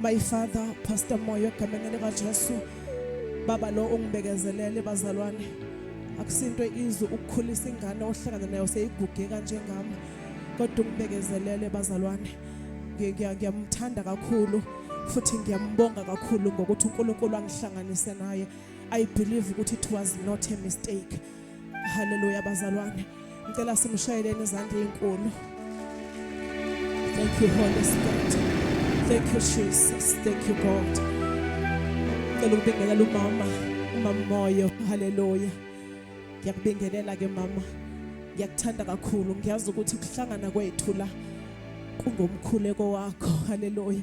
My father Pastor Moyo egameni lika Jesu baba lo ungibekezelele bazalwane akusinto izwe ukukhulisa ingane ohlangana nayo seyiguge kanjengami kodwa ungibekezelele bazalwane ngiyamthanda kakhulu futhi ngiyambonga kakhulu ngokuthi uNkulunkulu angihlanganise naye i believe ukuthi it was not a mistake Hallelujah bazalwane. Ngicela simshayeleni izandla ezinkulu. Thank you Holy Spirit. Thank you Jesus. Thank you God. Ngicela ukubingelela umama, umama moyo. Hallelujah. Ngiyakubingelela ke mama. Ngiyakuthanda kakhulu. Ngiyazi ukuthi ukuhlangana kwethu la kungomkhuleko wakho. Hallelujah.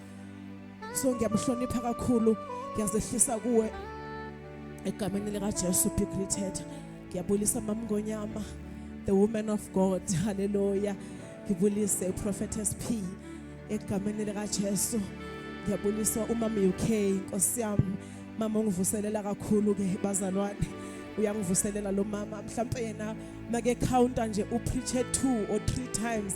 so ngiyamhlonipha kakhulu ngiyazehlisa kuwe egameni likaJesu be greeted ngiyabulisa mamngonyama the woman of God haleluya ngibulise uProphetess P egameni likaJesu ngiyabulisa umama UK inkosi yami mama ungivuselela kakhulu ke bazalwane uyangivuselela lo mama mhlawumbe yena make counter nje upreache 2 or 3 times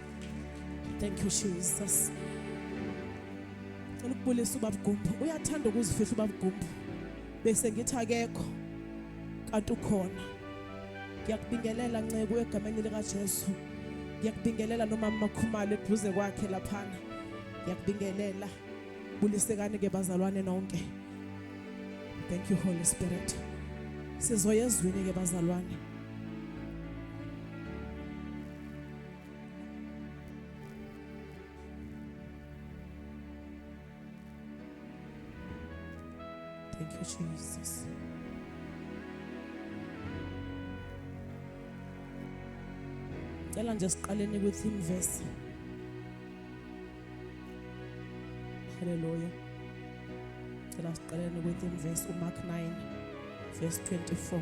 Thank you Jesus. Ngicela ukubulisa ubaba Gumbu. Uyathanda ukuzifihla ubaba Gumbu. Bese ngithi akekho kanti ukhona. Ngiyakubingelela nceku egameni lika Jesu. Ngiyakubingelela nomama Makhumalo eduze kwakhe laphana. Ngiyakubingelela. Bulisekani ke bazalwane nonke. Thank you Holy Spirit. Sizoyezwini ke bazalwane. Thank you, Jesus. Cela nje siqaleni kwi-theme verse. Hallelujah. Cela siqaleni kwi-theme verse uMark 9 verse 24.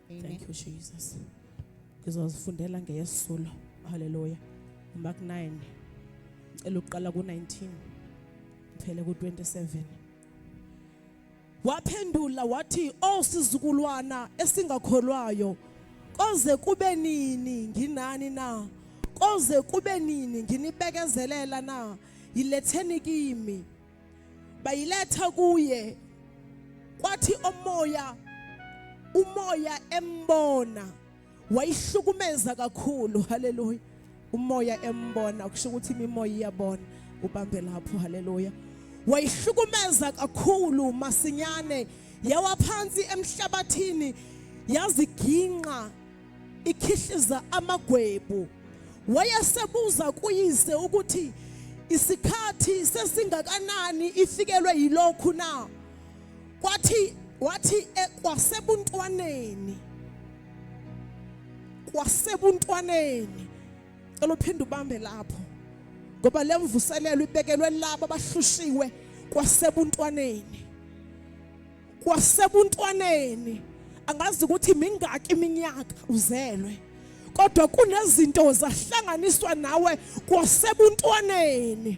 Amen. Thank you Jesus. Ngizozifundela ngeyesulo. Hallelujah. Mark 9 ngicela uqala ku19 phele ku27 Waphendula wathi oh sizukulwana esingakholwayo koze kube nini nginani na koze kube nini nginibekezelela na yiletheni kimi bayiletha kuye kwathi omoya umoya embona wayihlukumeza kakhulu haleluya umoya embona kusho ukuthi imimoya iyabona ubambe lapho haleluya wayihlukumeza kakhulu masinyane yawa phansi emhlabathini yaziginqa ikhihliza amagwebu wayesebuza kuyise ukuthi isikhathi sesingakanani ifikelwe yilokhu na kwathi wathi kwasebuntwaneni kwasebuntwaneni cela uphinde ubambe lapho ngoba lemvuselelo ibekelwe labo abahlushiwe kwasebuntwaneni kwasebuntwaneni angazi ukuthi mingaki iminyaka uzelwe kodwa kunezinto zahlanganiswa nawe kwasebuntwaneni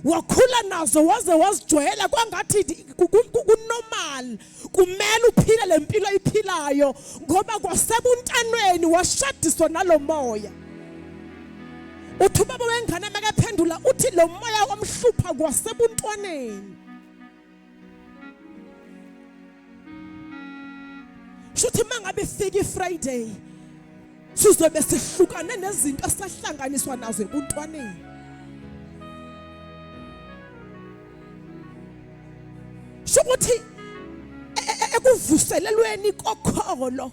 wakhula nazo waze wazijwayela kwangathi kunormal kumele uphile le mpilo ayiphilayo ngoba kwasebuntanweni washadiswa nalo moya uthi ubaba wengane makaphendula uthi lo moya omhlupha kwasebuntwaneni shuthi mangabe ifika ifriday sizobe sihlukane nezinto esahlanganiswa nazo ebuntwaneni shukuthi e, e, e, ekuvuselelweni kokholo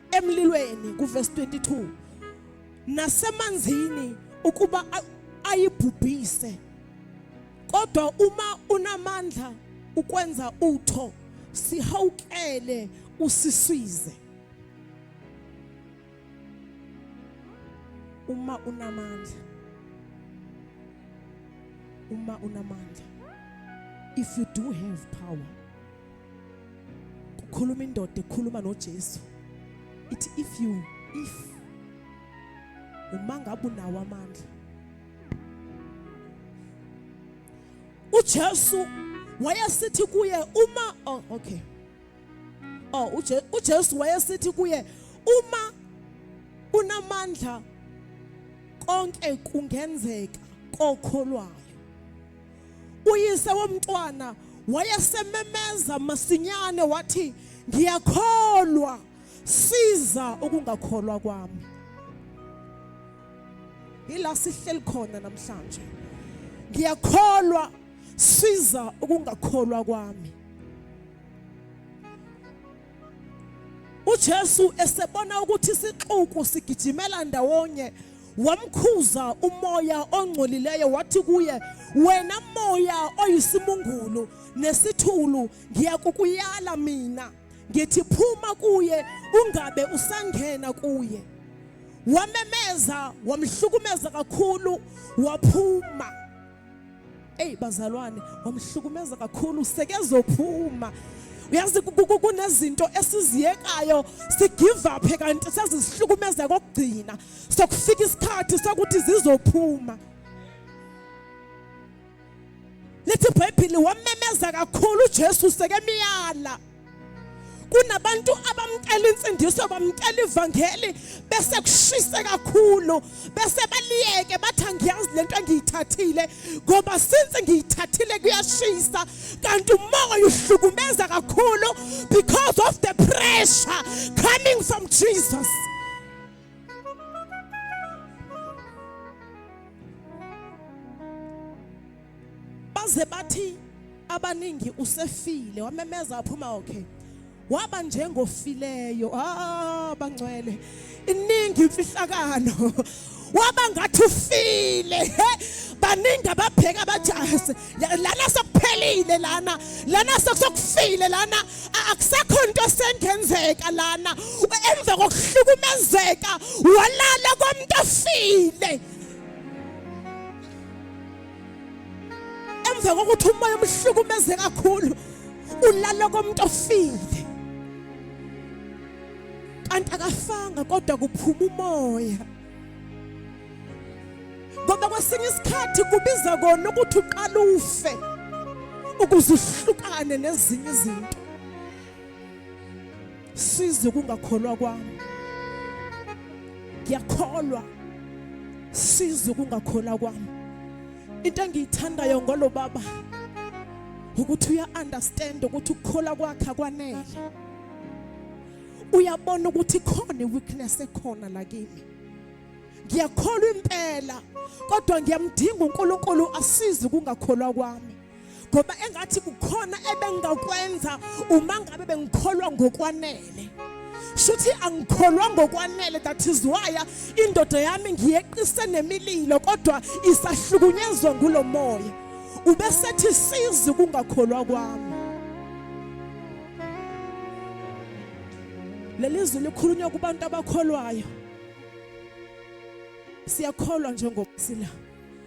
emlilweni kuvesi 22 nasemanzini ukuba ayibhubhise kodwa uma unamandla ukwenza utho sihawukele usiswize uma unamandla uma unamandla if you do have power kukhuluma indoda ekhuluma noJesu ithi if you if uma ngabe unawo amandla uJesu wayesithi kuye uma oh okay oh uje uJesu wayesithi kuye uma unamandla konke kungenzeka kokholwayo uyise womntwana wayesememeza masinyane wathi ngiyakholwa siza ukungakholwa kwami yila sihleli khona namhlanje ngiyakholwa siza ukungakholwa kwami uJesu esebona ukuthi isixuku sigijimela ndawonye wamkhuza umoya ongcolileyo wathi kuye wena moya oyisimungulu nesithulu ngiyakukuyala mina ngithi phuma kuye ungabe usangena kuye wamemeza wamhlukumeza kakhulu waphuma eyi bazalwane wamhlukumeza kakhulu sekezophuma uyazi kunezinto esiziyekayo sigive up kanti sezisihlukumeza kokugcina sokufika isikhathi sokuthi zizophuma lithi ibhayibhili wamemeza kakhulu ujesu sekemiyala kunabantu abamcela insindiso bamcela ivangeli bese kushise kakhulu bese baliyeke bathi angiyazi lento engiyithathile ngoba since ngiyithathile kuyashisa kanti umoya uhlukumeza kakhulu because of the pressure coming from Jesus baze bathi abaningi usefile wamemeza waphuma okay waba njengofileyo ah bangcwele iningi imfihlakalo waba ngathi ufile he baningi ababheka abajahase lana sokuphelile lana lana sokufile lana akusekho into esengenzeka lana emva kokuhlukumezeka walala komuntu ofile emva kokuthi umoya umhlukumeze kakhulu ulala komuntu ofile kanti akafanga kodwa kuphuma umoya ngoba kwesinye isikhathi kubiza kona ukuthi uqala ufe ukuze uhlukane nezinye izinto size kungakholwa kwami ngiyakholwa size kungakholwa kwami into engiyithandayo ngolo baba ukuthi uya understand ukuthi ukukholwa kwakhe akwanele uyabona ukuthi khona weakness ekhona la kimi ngiyakholwa impela kodwa ngiyamdinga uNkulunkulu asize kungakholwa kwami ngoba engathi kukhona ebengakwenza uma ngabe bengikholwa ngokwanele shuthi angikholwa ngokwanele that is why indoda yami ngiyeqise nemililo kodwa isahlukunyezwa ngulo moya ubesethi sizi kungakholwa kwami leli zwi likhulunywa kubantu abakholwayo siyakholwa njengoba sila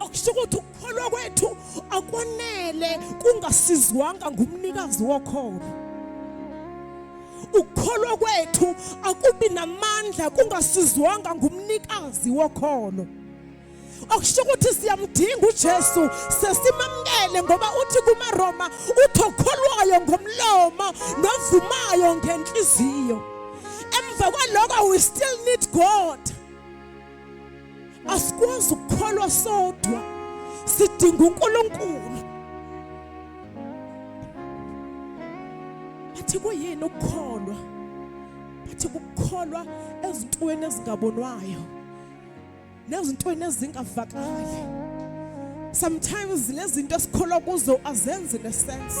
okusho ukuthi ukukholwa kwethu akwanele kungasizwanga ngumnikazi wokholo ukukholwa kwethu akubi namandla kungasizwanga ngumnikazi wokholo okusho ukuthi siyamdinga uJesu sesimamkele ngoba uthi kumaRoma uthi okholwayo ngomlomo novumayo ngenhliziyo emva kwaloko we still need God asikwazi ukukholwa sodwa sidinga uNkulunkulu bathi kuyini ukukholwa bathi ukukholwa ezintweni ezingabonwayo nezintweni ezingavakali sometimes lezinto esikholwa kuzo azenzi nesense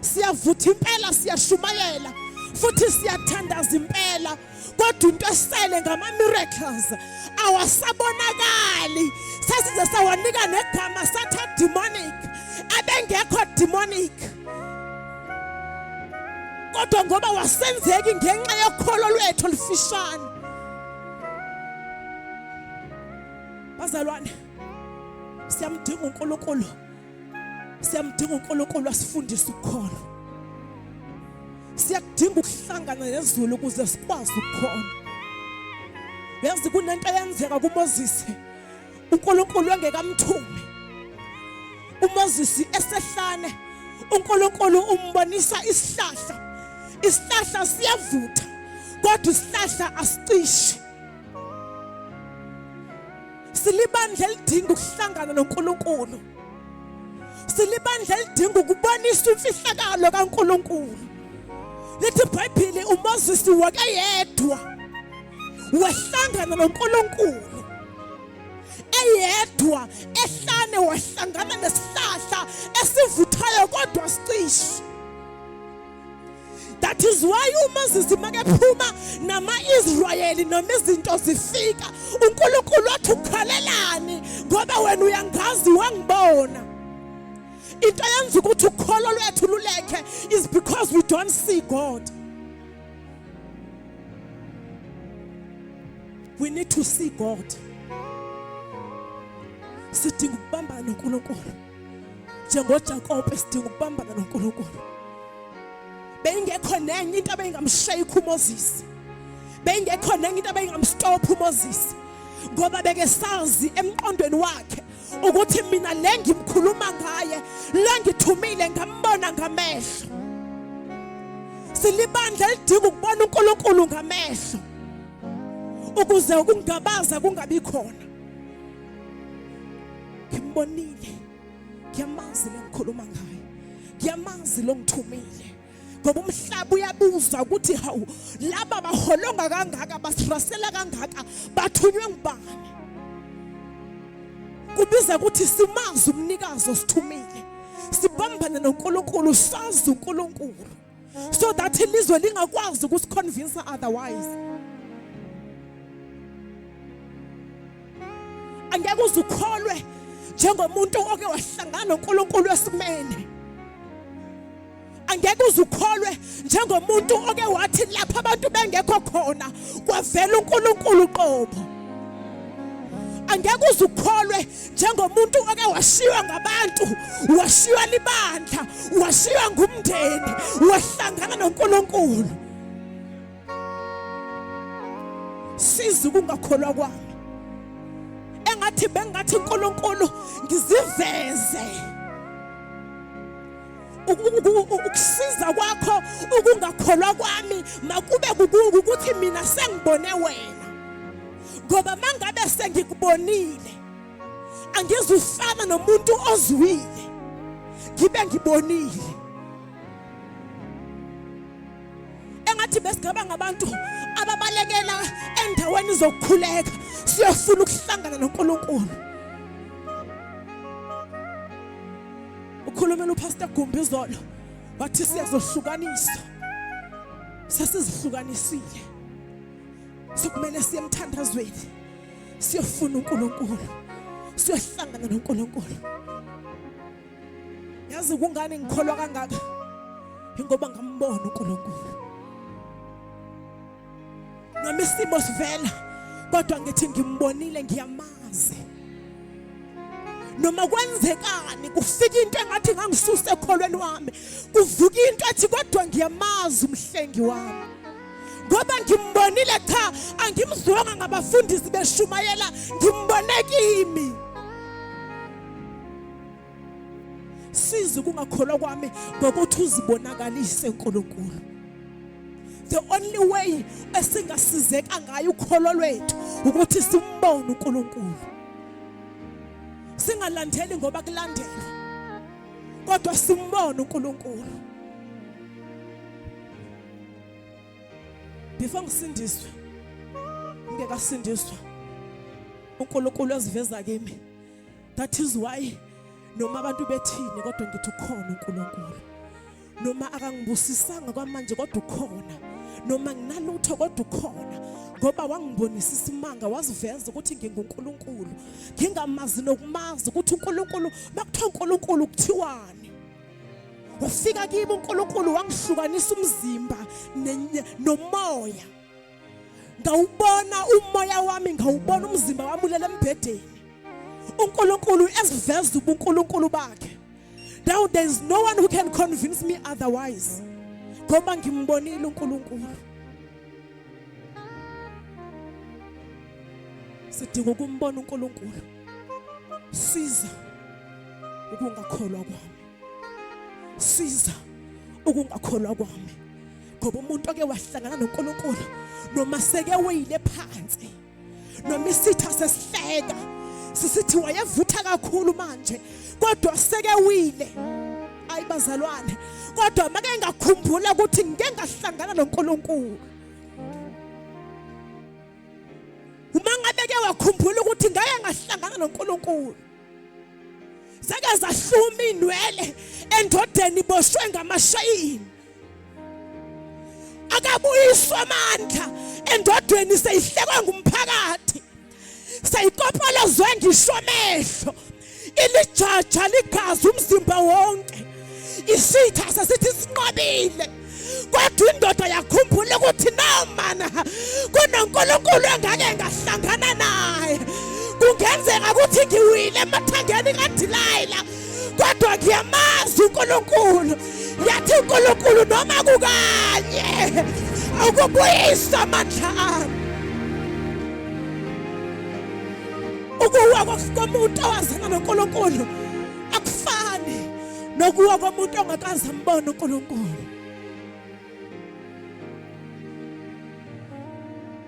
siyavutha impela siyashumayela futhi siyathandaza impela kodwa into esele ngama-miracles awasabonakali sasize sawanika negama sathi ademonic abengekho demonic kodwa ngoba wasenzeki ngenxa yokholo lwethu olufishane bazalwane siyamdinga uNkulunkulu siyamdinga uNkulunkulu asifundise ukukhona siyakudinga ukuhlangana nezulu ukuze sikwazi ukukhona yazi kunento eyenzeka kuMoses uNkulunkulu engekamthume uMoses esehlane uNkulunkulu umbonisa isihlahla isihlahla siyavutha kodwa isihlahla asicishe Silibandla elidinga ukuhlangana noNkulunkulu. Silibandla elidinga ukubonisa imfihlakalo kaNkulunkulu. Lithi iBhayibheli uMoses wakayedwa wahlangana noNkulunkulu. eyedwa ehlane wahlangana nesihlahla esivuthayo kodwa sicishe that is why umoses makephuma nama-israyeli noma izinto zifika unkulunkulu wathi ukholelani ngoba wena uyangazi wangibona into yenza ukuthi ukholo lwethu lulekhe is because we don't see god we need to see god sidinga ukubambana nonkulunkulu njengoJakobe sidinga ukubambana noNkulunkulu beyingekho nenye into abeyingamshayikho uMoses beyingekho nenye into abeyingamstopha uMoses ngoba beke sazi emqondweni wakhe ukuthi mina le ngimkhuluma ngaye le ngithumile ngambona ngamehlo silibandla elidinga ukubona uNkulunkulu ngamehlo ukuze ukungabaza kungabi khona ngimbonile ngiyamazi lengikhuluma ngaye ngiyamazi lo ngithumile ngoba umhlaba uyabuza ukuthi hawu laba baholonga kangaka basirasela kangaka bathunywe ngubani kubiza ukuthi simazi umnikazi osithumile sibambane noNkulunkulu sazi uNkulunkulu so that ilizwe lingakwazi ukusiconvince otherwise angeke uze ukholwe njengomuntu oke wahlangana noNkulunkulu esimene angeke uze ukholwe njengomuntu oke wathi lapha abantu bengekho khona kwavela uNkulunkulu qobo angeke uze ukholwe njengomuntu oke washiywa ngabantu washiywa libandla washiywa ngumndeni wahlangana noNkulunkulu siza ukungakholwa kwami engathi bengathi uNkulunkulu ngiziveze ukusiza kwakho ukungakholwa kwami makube ukuthi mina sengibone wena ngoba mangabe sengikubonile angizufana nomuntu ozwile ngibe ngibonile engathi besigaba ngabantu ababalekela endaweni zokukhuleka siyofuna ukuhlangana noNkulunkulu ukhulumela upastor Gumbi izolo wathi siyazohlukaniswa sesizihlukanisile sokumele siye emthandazweni siyofuna uNkulunkulu siyohlangana noNkulunkulu yazi kungani ngikholwa kangaka ingoba ngambona uNkulunkulu nami isimo sivela kodwa ngithi ngimbonile ngiyamazi noma kwenzekani kufika into engathi ngangisusa ekholweni wami kuvuka into ethi kodwa ngiyamazi umhlengi wami ngoba ngimbonile cha angimzwanga ngabafundisi beshumayela ngimbone kimi siza ukungakholwa kwami ngokuthi uzibonakalise uNkulunkulu the only way esingasizeka ngayo ukholo lwethu ukuthi simbone uNkulunkulu singalandeli ngoba kulandelwa kodwa simbone uNkulunkulu before ngisindiswe ngingekasindiswa uNkulunkulu eziveza kimi that is why noma abantu bethini kodwa ngithi ukhona uNkulunkulu noma akangibusisanga kwamanje kodwa ukhona noma nginalutho kodwa ukhona ngoba wangibonisa isimanga waziveza ukuthi nginguNkulunkulu ngingamazi nokumazi ukuthi uNkulunkulu makuthiwa uNkulunkulu kuthiwani wafika kimi uNkulunkulu wangihlukanisa umzimba nomoya ngawubona umoya wami ngawubona umzimba wami ulele embhedeni uNkulunkulu esiveza ubuNkulunkulu bakhe now there is no one who can convince me otherwise ngoba ngimbonile uNkulunkulu sidinga ukumbona uNkulunkulu siza ukungakholwa kwami siza ukungakholwa kwami ngoba umuntu oke wahlangana noNkulunkulu noma seke weyile phansi noma isitha sesihleka sisithi wayevutha kakhulu manje kodwa seke wile ayi bazalwane kodwa make ngakhumbula ukuthi ngeke ngahlangana noNkulunkulu uma ngabe ke wakhumbula ukuthi ngeke ngahlangana noNkulunkulu zake zahluma inwele endodeni boshwe ngamashayini akabuyiswa amandla endodeni seyihlekwa ngumphakathi seyikopolozwe ngisho amehlo ilijaja ligazi umzimba wonke isitha sesithi sinqobile kodwa indoda yakhumbula ukuthi nomana kunonkulunkulu engake ngahlangana naye kungenzeka ukuthi ngiwile emathangeni kadilayila kodwa ngiyamazi unkulunkulu yathi unkulunkulu noma kukanye ukubuyisa amandla ami ukuwa komuntu owazana noNkulunkulu akufani nokuwa komuntu ongakaze ambone uNkulunkulu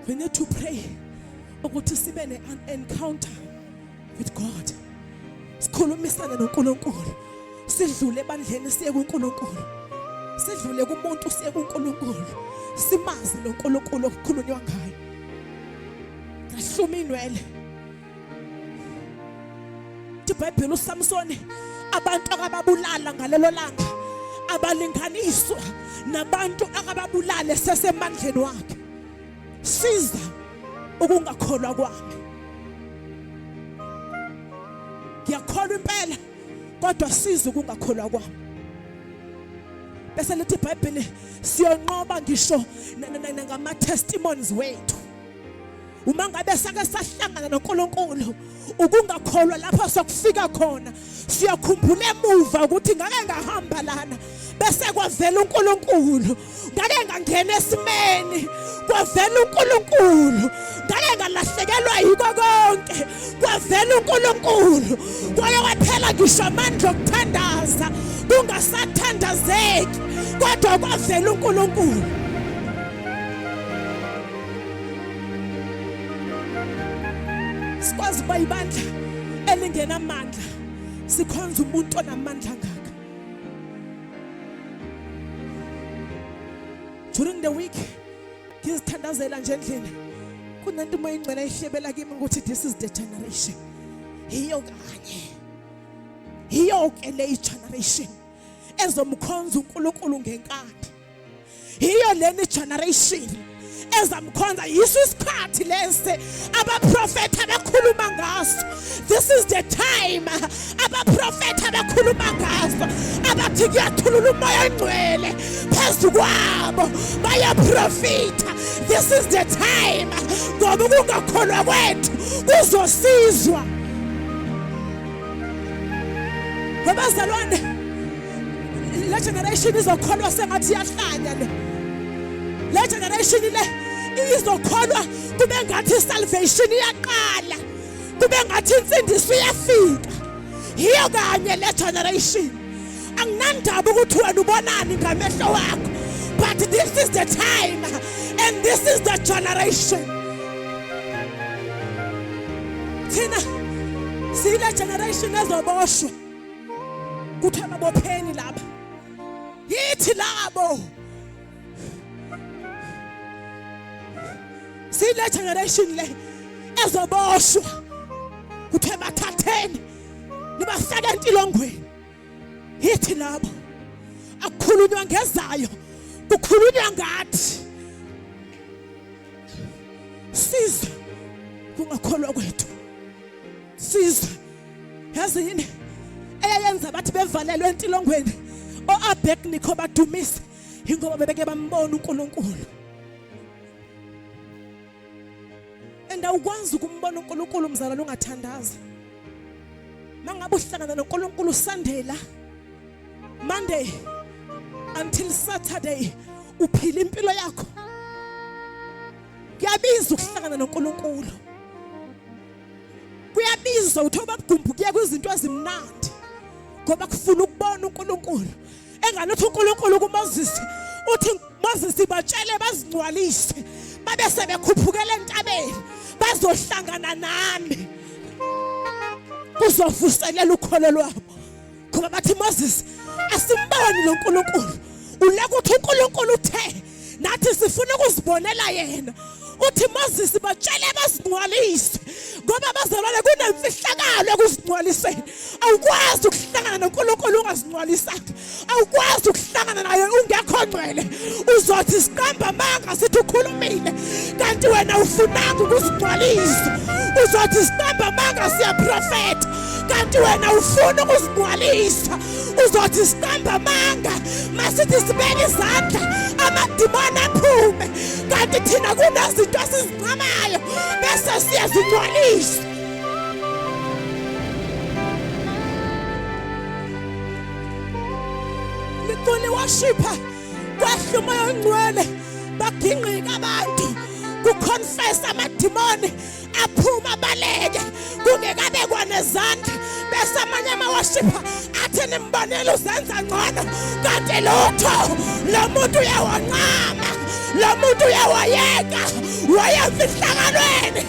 we need to pray ukuthi sibe ne encounter with God sikhulumisane noNkulunkulu sidlule ebandleni siye kuNkulunkulu sidlule kumuntu siye kuNkulunkulu simazi loNkulunkulu okukhulunywa ngayo Ngasuma inwele. IBhayibheli uSamsoni abantu akababulala ngalelo langa abalinganiswa nabantu akababulale sesemandleni wakhe. Siza ukungakholwa kwami. Ngiyakholwa impela kodwa siza ukungakholwa kwami. bese lithi ibhayibheli siyonqoba ngisho ngama-testimonies wethu uma ngabe sake sahlangana noNkulunkulu ukungakholwa lapho sokufika khona siyakhumbula emuva ukuthi ngake ngahamba lana bese kwavela uNkulunkulu ngake ngangena esimeni kwavela uNkulunkulu ngake ngalahlekelwa yiko konke kwavela uNkulunkulu kwaye kwaphela ngisho amandla okuthandaza kungasathandazeki kodwa kwavela uNkulunkulu sikwazi ukuba ibandla elingenamandla sikhonza umuntu onamandla ngaka during the week ngizithandazela nje endlini kunento uma ingcwele ihlebela kimi ukuthi this is the generation yiyo kanye yiyo ke le generation ezomkhonza uNkulunkulu ngenkani yiyo leni generation ezamkhonza yiso isikhathi lesi abaprofetha bekhuluma ngaso this is the time abaprofetha bekhuluma ngaso abathi kuyathulula umoya ongcwele phezu kwabo bayaprofitha this is the time ngoba ukungakholwa kwethu kuzosizwa ngobazalwane le generation izokholwa sengathi iyahlanya le le generation le izokholwa kube ngathi salvation iyaqala kube ngathi insindiso iyafika yiyo kanye le generation anginandaba ukuthi wena ubonani ngamehlo wakho but this is the time and this is the generation thina siyile generation ezoboshwa kuthiwa babopheni lapha yithi labo sile generation le ezoboshwa kuthiwa bathatheni nibafake entilongweni yithi labo akukhulunywa ngezayo kukhulunywa ngathi siza kungakholwa kwethu sizwe yazi yini eyayenza bathi bevalelwe entilongweni oabednikho badumise yingoba bebeke bambona unkulunkulu and awukwazi ukumbona unkulunkulu mzalwane ungathandazi uma ngabe uhlangana nonkulunkulu usandela monday until saturday uphila impilo yakho kuyabiza ukuhlangana nonkulunkulu kuyabiza uthi obabugumbu kuye kwizinto ezimnandi ngoba kufuna ukubona uNkulunkulu engalothi uNkulunkulu kuMoses uthi Moses batshele bazingcwalise babe sebekhuphukela entabeni bazohlangana nami kuzovuselela ukholo lwabo ngoba bathi Moses asimboni lo Nkulunkulu ulaka uthi uNkulunkulu uthe nathi sifuna ukuzibonela yena uthi Moses batshele bazingcwalise ngoba bazalwane kunemfihlakalo ekuzingcwaliseni awukwazi ukuhlangana noNkulunkulu ungazingcwalisanga awukwazi ukuhlangana naye ungekho ngcwele uzothi siqamba amanga sithi ukhulumile kanti wena ufunanga ukuzingcwalisa uzothi siqamba amanga siyaprofetha kanti wena ufuna ukuzigcwalisa uzothi siqamba amanga masithi sibeke izandla amadimoni aphume kanti thina kunezinto esizincamayo bese siyazigcwalisa liculi washipha kwehla umoya ongcwele bagingqika abantu kuconfesa amadimoni aphuma abaleke kungekabe kwanezandla bese amanye amawashipha athi nimbonela uzenza ngcono kanti lutho lo muntu uyawancama lo muntu uyawayeka wayemfihlakalweni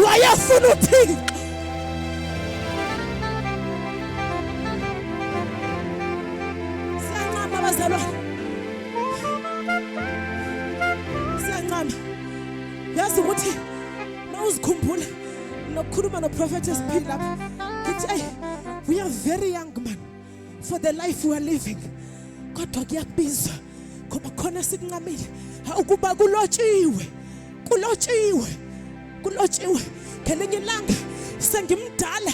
wayefuna uthixo yazi ukuthi uma uzikhumbula nokukhuluma noprofethi esiphili lapho ngithi eyi we are very young man for the life we are living kodwa kuyakubiza ngoba khona sikuncamile ukuba kulotshiwe kulotshiwe kulotshiwe ngelinye ilanga sengimdala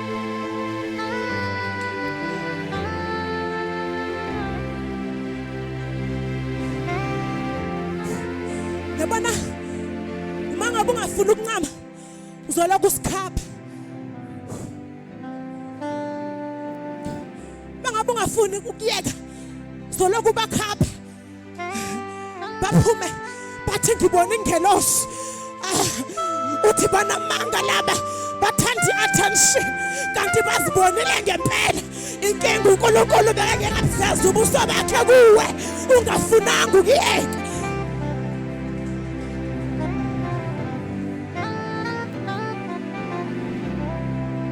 yabona uma ngabe ungafuni ukuncama uzolokhu usikhapha uma ngabe ungafuni ukuyeka uzolokhu ubakhapha baphume bathi ngibona ingelosi ah, uthi banamanga laba bathanda i-attention kanti bazibonile ngempela inkinga unkulunkulu bekake ngabuzeza ubuso bakhe kuwe ungafunanga ukuyeka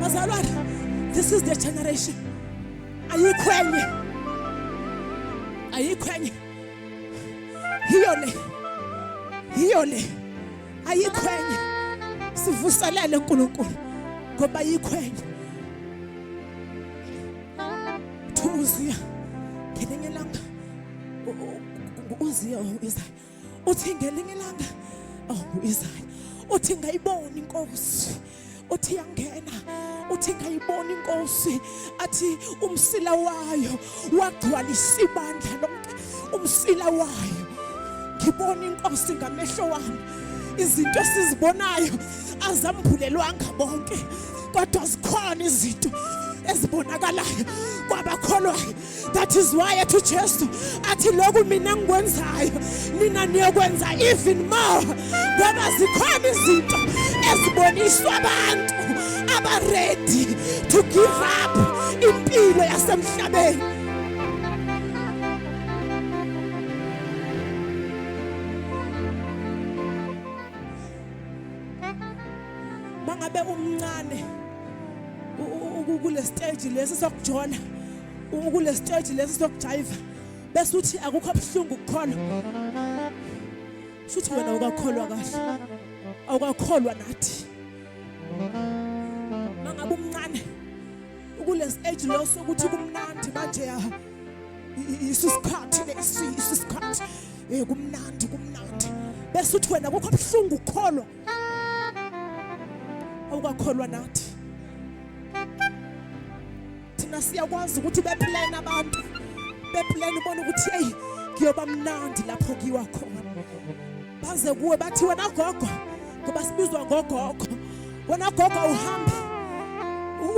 bazalwane this is the generation ayikho enye ayikho enye yiyo le yiyo le ayikho enye sivuselele uNkulunkulu ngoba ayikho enye thuziya ngelinye langa uziya uyizayo uthi ngelinye ilanga oh uIsaya uthi ngayibona inkosi uthi yangena uthi ngayibona inkosi athi umsila wayo wagcwalisa ibandla lonke umsila wayo ngibona inkosi ngamehlo wami izinto sizibonayo azambulelwanga bonke kodwa zikhona izinto ezibonakalayo kwabakholwayo that is why ethi ujesu athi lokhu mina ngikwenzayo nina niyokwenza even more ngoba zikhona izinto eziboniswa abantu abaredi to give up impilo yasemhlabeni mangabe umncane kule stage lesi sokujona kule stage lesi sokujayiva bese uthi akukho obuhlungu kukhona futhi wena ukakholwa kahle awukakholwa nathi mangabe umncane kule stage lo sokuthi kumnandi manje ya isu sikhathi lesi isu sikhathi eh kumnandi kumnandi bese uthi wena kukho obuhlungu kukhona awukakholwa nathi thina siyakwazi ukuthi beplane abantu beplane ubona ukuthi eyi kuyoba mnandi lapho kuyiwa khona baze kuwe bathi wena gogo ngoba sibizwa ngogogo wena gogo uhambe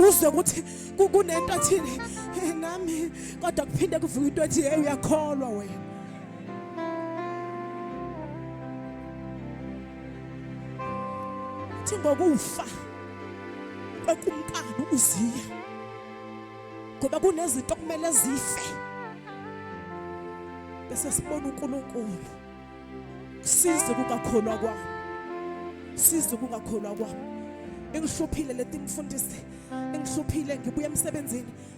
uzwe ukuthi kunento athini nami kodwa kuphinde kuvuka into ethi hey uyakholwa wena Uthi ngokufa kwekumkani uziya ngoba kunezinto okumele zife bese sibona uNkulunkulu size kungakholwa kwami size kungakholwa kwami engihluphile leti mfundisi engihluphile ngibuya emsebenzini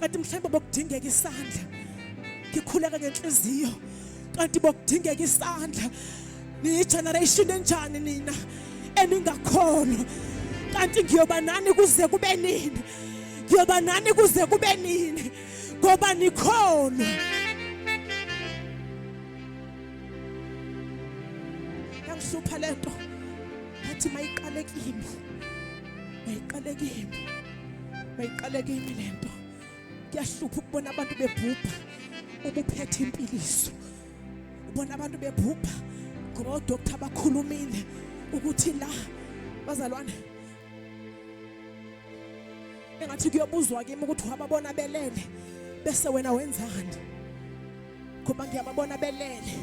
kanti mhlawumbe bokudingeka isandla ngikhuleka ngenhliziyo kanti bokudingeka isandla niyigeneration enjani nina eningakholwa kanti ngiyoba nani kuze kube nini ngiyoba nani kuze kube nini ngoba nikhona yangihlupha lento ngathi mayiqale kimi mayiqale kimi mayiqaleke imi le nto kuyahlupha ukubona abantu bebhubha ubuphethe impiliso ubona abantu bebhubha ngoba odokotha bakhulumile ukuthi la bazalwane engathi kuyobuzwa kimi ukuthi wababona belele bese wena wenzani ngoba ngiyababona belele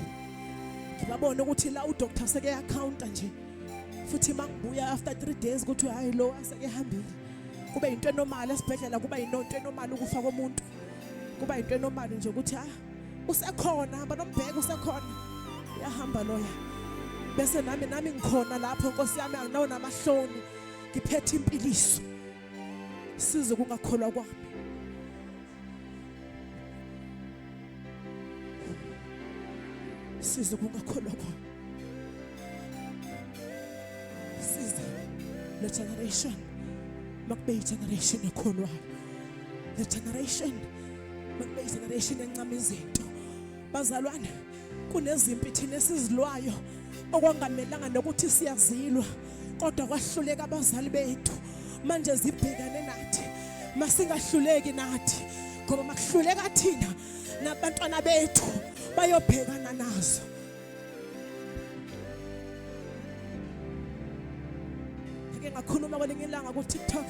ngibabona ukuthi la udokotha seke yakhawunta nje futhi makubuya after 3 days kuthi hayi lo aseke hambile kube into enormal esibhedlela kuba inonto enormal ukufa komuntu kuba into enormal nje ukuthi ha ah, usekhona hamba nombheka usekhona uyahamba loya bese nami nami ngikhona lapho nkosi yami anginawo namahloni ngiphethe impiliso size kungakholwa kwami size kungakholwa kwami size le generation makube i-generation ekholwayo le generation makube i-generation encama izinto Bazalwane, kunezimpi thina esizilwayo okwangamelanga nokuthi siyazilwa kodwa kwahluleka abazali bethu manje zibhekane nathi masingahluleki nathi ngoba makuhluleka thina nabantwana bethu bayobhekana nazo ngike ngakhuluma kwelinye ilanga ku-tiktok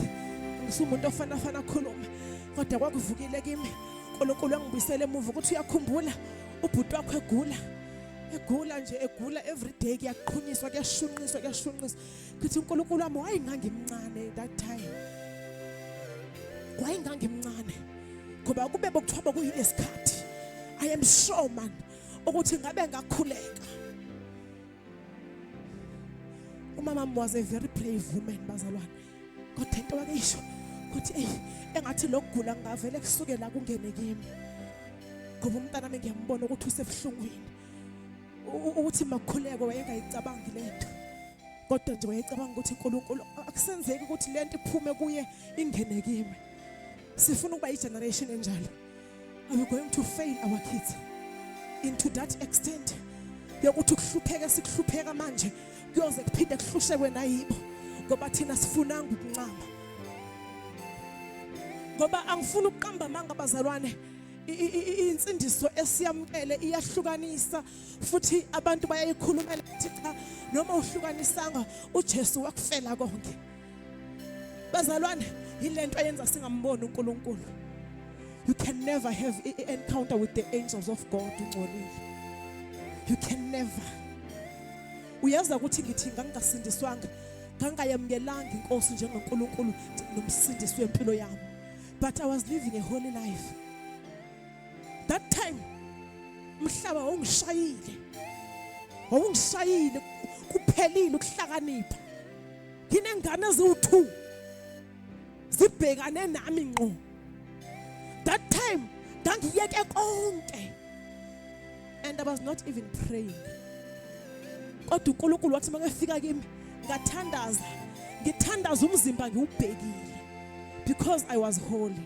ngisumuntu ofanafana akhulume kodwa kwakuvukile kimi uNkulunkulu angibuyisele emuva ukuthi uyakhumbula ubhuti wakho egula egula nje egula every day kuyaqhunyiswa kuyashunqiswa kuyashunqiswa kuthi uNkulunkulu wami wayengangimncane that time wayengangimncane ngoba kube bokuthiwa bokuyilesikhathi i am sure man ukuthi ngabe ngakhuleka umama was a very brave woman bazalwane kodwa into wakeyisho ukuthi eyi engathi lokugula ngingavele kusuke la kungene kimi ngoba umntana ami ngiyambona ukuthi usebuhlungwini ukuthi makhuleko wayengayicabangi le nto kodwa nje wayecabanga ukuthi uNkulunkulu akusenzeki ukuthi lento iphume kuye ingene kimi sifuna ukuba igeneration enjalo Are you going to fail our kids into that extent yokuthi kuhlupheke sikuhlupheka manje kuyoze kuphinde kuhlushekwe nayibo ngoba thina sifunanga ukuncama ngoba angifuni ukuqamba amanga abazalwane insindiso esiyamkele iyahlukanisa futhi abantu bayayikhulumela ukuthi cha noma uhlukanisanga uJesu wakufela konke bazalwane yilento eyenza singamboni uNkulunkulu you can never have an encounter with the angels of God ungcolile you can never uyaza ukuthi ngithi ngangingasindiswanga ngangayamkelanga inkosi njengoNkulunkulu nomsindisi wempilo yami but i was living a holy life that time umhlaba wawungishayile wawungishayile kuphelile ukuhlakanipha nginengane eziwu-two zibhekane nami ngqo that time ngangiyeke konke and i was not even praying kodwa unkulunkulu wathi makefika kimi ngathandaza ngithandaza umzimba ngiwubhekile because i was holy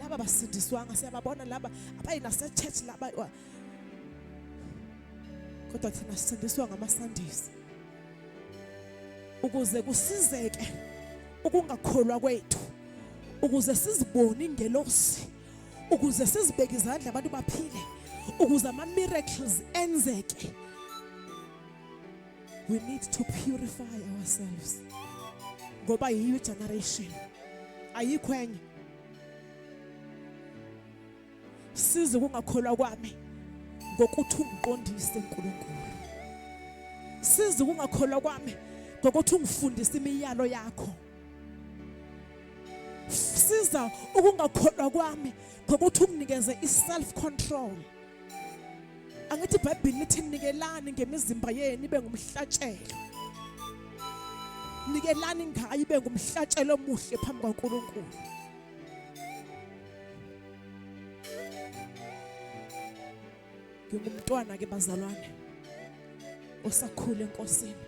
laba basindiswanga siyababona laba abayi nasechurch laba kodwa thina sisindiswa ngamasandisi ukuze kusizeke ukungakholwa kwethu ukuze sizibone ingelosi ukuze sizibeke izandla abantu baphile ukuze ama miracles enzeke we need to purify ourselves ngoba yiyo generation ayikho enye size kungakholwa kwami ngokuthi ungiqondise uNkulunkulu size kungakholwa kwami ngokuthi ungifundise imiyalo yakho siza ukungakholwa kwami ngokuthi unginikeze i-self control angithi ibhayibhili lithi nikelani ngemizimba yenu ibe ngumhlatshelo nikelani ngayo ibe ngumhlatshelo omuhle phambi kwaNkulunkulu ngingumntwana ke bazalwane osakhule enkosini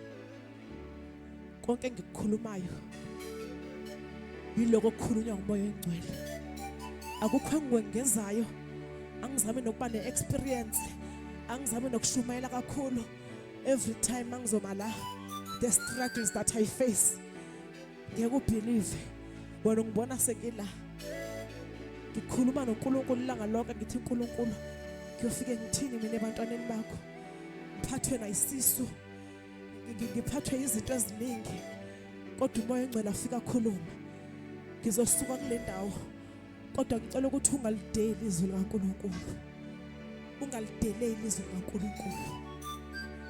konke engikukhulumayo yiloko okukhulunywa ngumoya oyingcwele akukho engikwengezayo angizami nokuba ne-experience angizami nokushumayela kakhulu every time angizoma la the struggles that i face ngeke ubhilive wena ungibona sekila ngikhuluma noNkulunkulu ilanga lonke ngithi uNkulunkulu kuyofike ngithini mina ebantwaneni bakho ngiphathwe nayisisu ngiphathwe izinto eziningi kodwa umoya engcwele afika khuluma ngizosuka kule ndawo kodwa ngicela ukuthi ungalideli izwi likaNkulunkulu ungalideleli izwi likaNkulunkulu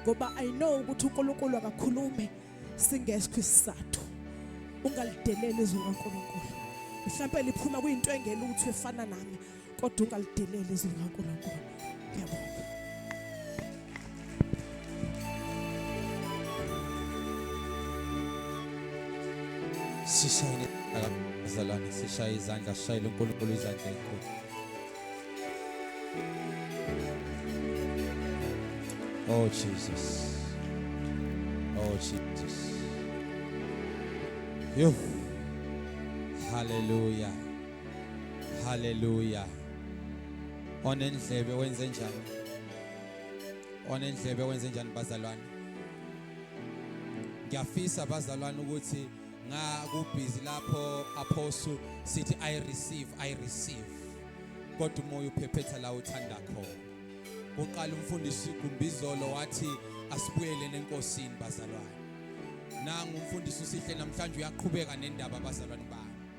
ngoba i know ukuthi uNkulunkulu akakhulume singeskho isizathu ungalideleli izwi likaNkulunkulu mhlawumbe liphuma kuyinto engelutho efana nami kodwa ungalideleli izwi likaNkulunkulu ngiyabonga sishayile akazalwane sishaye izandla sishayile uNkulunkulu izandla enkulu Oh Jesus Oh Jesus Yo Hallelujah Hallelujah. Onendlebe wenze njani? Onendlebe wenze njani bazalwane? Ngiyafisa bazalwane ukuthi ngakubhizi lapho apostle sithi i receive i receive kodwa umoya uphephetha la uthanda khona uqala umfundisi Gumbizolo wathi asibuyele nenkosini bazalwane nangu umfundisi usihle namhlanje uyaqhubeka nendaba bazalwane bami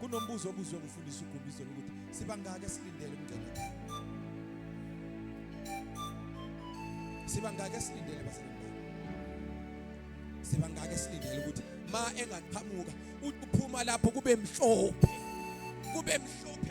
kunombuzo obuzwe ngufundisa uGumbizo ukuthi sibangaki esilindele umngcele sibangaki esilindele bazalwane sibangaki esilindele ukuthi ma engaqhamuka uphuma lapho kube mhlophe kube mhlophe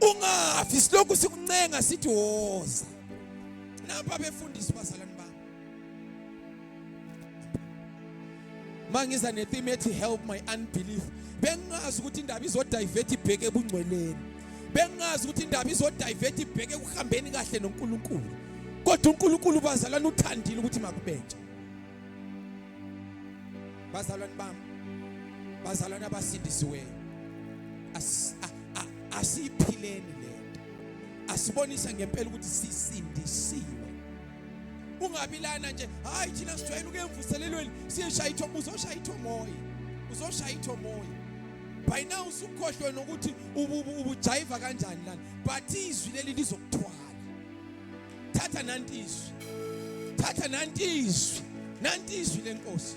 ungafi silokhu sikuncenga sithi woza napa befundisi bazalwane bami mangiza netheme ethi help my unbelief bengazi ukuthi indaba izodivert ibheke ebungcweleni bengazi ukuthi indaba izodivert ibheke ekuhambeni kahle noNkulunkulu kodwa uNkulunkulu bazalwane uthandile ukuthi makubenje bazalwane bami bazalwane abasindisiweyo asiyiphileni lento asibonisa ngempela ukuthi sisindisiwe ungabi lana nje hayi thina sijwayele ukuyemvuselelweni siyeshaya ithombo uzoshaya ithomoya uzoshaya ithomoya by now usukhohlwe nokuthi ubujayiva kanjani lana but izwi leli lizokuthwala thatha nanti izwi thatha nanti izwi nanti izwi lenkosi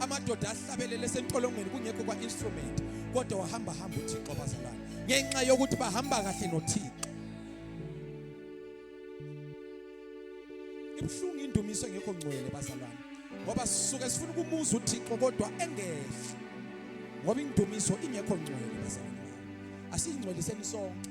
amadoda ahlabelele esentolongweni kungekho kwa-instrument kodwa wahamba hamba uthixo bazalwane ngenxa yokuthi bahamba kahle nothixo ibuhlungu indumiso engekho ngcwele bazalwane ngoba sisuke sifuna ukumuza uthixo kodwa engehla ngoba indumiso ingekho ngcwele bazalwane asiyingcweliseni sonke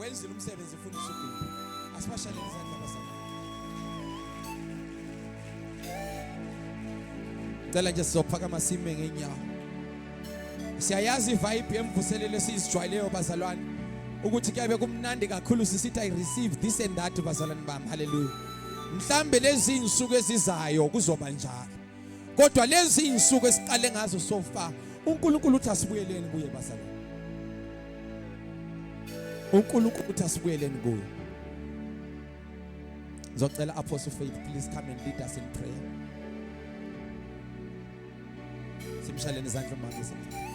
wenzile umsebenzi futhi usugudu asibashalele izandla basana cela nje sizophakama sime ngenyawo siyayazi ivibe emvuselelo esizijwayeleyo bazalwane ukuthi kuyabe kumnandi kakhulu sisithi i receive this and that bazalwane bami haleluya mhlambe lezi insuku ezizayo kuzoba njalo kodwa lezi iy'nsuku esiqale ngazo so far unkulunkulu uthi asibuyeleni kuye bazalwane unkulunkulu uthi asibuyeleni kuye ngizocela apostle faith please come and lead us in prayer simshaleni izandla umama isemhlabeni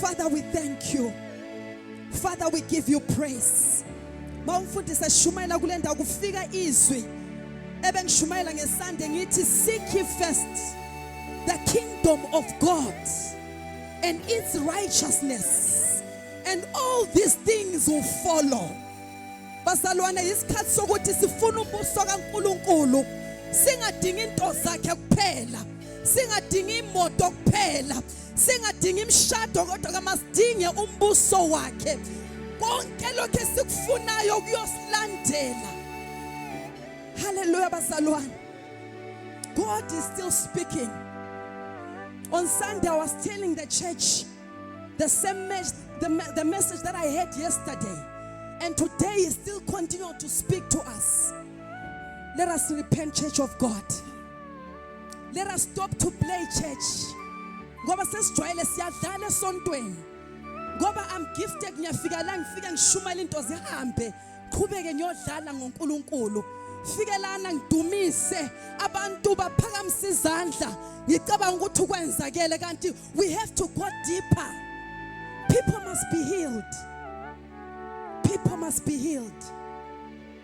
Father we thank you Father we give you praise Mawumfundisi eshumayela kulendawo kufika izwi ebengishumayela ngesande ngithi seek ye first the kingdom of God and its righteousness and all these things will follow bazalwane isikhathi sokuthi sifuna ubuso kaNkuluNkulu singadingi into zakhe kuphela singadingi imoto kuphela singadingi imishado kodwa kamasidinge umbuso wakhe konke lokho esikufunayo kuyosilandela haleluya bazalwane god is still speaking on sunday i was telling the church the same message the, the message that i had yesterday and today is still continuing to speak to us let us repent church of god Let us stop to play church. Ngoba sesijwayele siyadlala esontweni. Ngoba I'm gifted ngiyafika la ngifika ngishumayela into zihambe. Qhubeke ngiyodlala ngoNkulunkulu. Fikelana ngidumise abantu baphakamise izandla. Ngicabanga ukuthi ukwenzakele kanti we have to go deeper. People must be healed. People must be healed.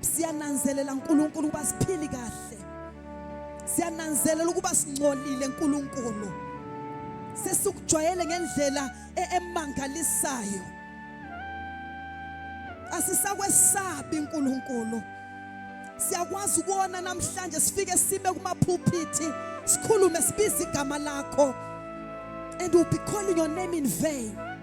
siyananzelela uNkulunkulu ukuba siphili kahle siyananzelela ukuba singcolile uNkulunkulu sesikujwayele ngendlela e-, emangalisayo asisakwesabi uNkulunkulu siyakwazi ukona namhlanje sifike sime kumaphuphithi sikhulume sibize igama lakho and we'll be calling your name in vain